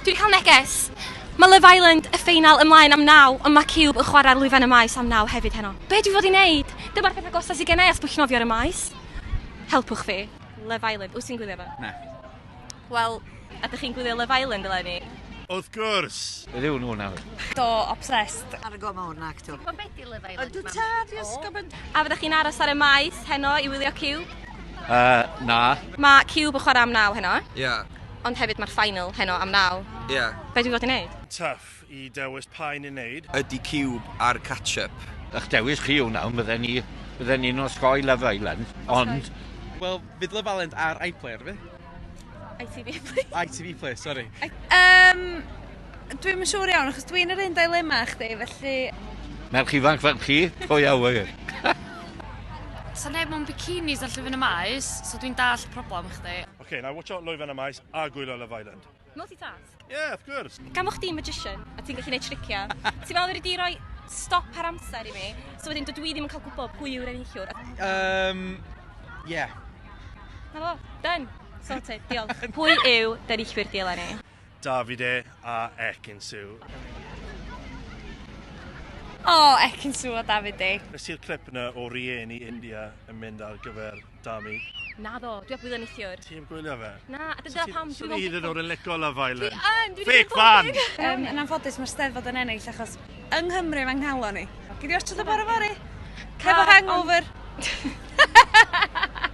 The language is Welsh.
Dwi'n cael neges! Mae Love Island, y ffeinal, ymlaen am naw, ond mae Cube yn chwarae'r lwyfan y maes am naw hefyd heno. Be dwi fod i wneud? Dyma'r peth agosaf sydd gennau at bwllnofio ar y maes. Helpwch fi. Love Island, wyt ti'n gwylio fo? Na. Wel, ydych chi'n gwylio Love Island eleni? Wrth gwrs! Rhyw nhw nawr. Do, obsessed. Ar y goma hwn, ac to. Mae'n beth i lyfau. Ond dwi tad i ysgol mynd. A fyddech chi'n aros ar y maes heno i wylio Cube? Uh, na. Mae Cube yn chwarae am naw heno. Ie. Yeah. Ond hefyd mae'r final heno am naw. Ie. Yeah. Be dwi'n fod i wneud? Tuff i dewis pa un i wneud. Ydy Cube ar catch-up. Ych dewis chi yw naw, bydden ni, bydden ni'n osgoi Love Island, ond... Wel, fydd Love Island ar iPlayer fi. ITV Play. ITV Play, sori. Um, dwi'n yn siŵr iawn, achos dwi'n yr un dilema â chdi, felly... Merch ifanc fel chi, pwy a wyr. Sa neb mewn bikinis ar llyfyn y maes, so dwi'n dall problem chdi. OK, now watch out lwyfan y maes a gwylio Love Island. Multitask? Yeah, of course. Gan fo chdi'n magician, a ti'n gallu gwneud triciau, ti'n meddwl wedi di roi stop ar amser i mi, so wedyn dydw i ddim yn cael gwybod pwy yw'r enillwr. Um, yeah. Na fo, done. Sorted, diolch. pwy yw denillwyr di eleni? Davide a Ekinsu. O, oh, Ekinsu a Davide. Nes i'r clip yna o rieni India yn mynd ar gyfer Dami. Naddo, dwi ap gwylio neithiwr. Ti ap gwylio fe? Na, a dyna pam dwi ddim yn gwybod. Dwi yn licio Love Island. Dwi yn, dwi ddim yn gwybod. Fake fan! Um, yn anffodus, mae'r steddfod yn ennill achos yng Nghymru mae'n nghalon ni. Gyd i watch o dy bore fori. Cefo hangover.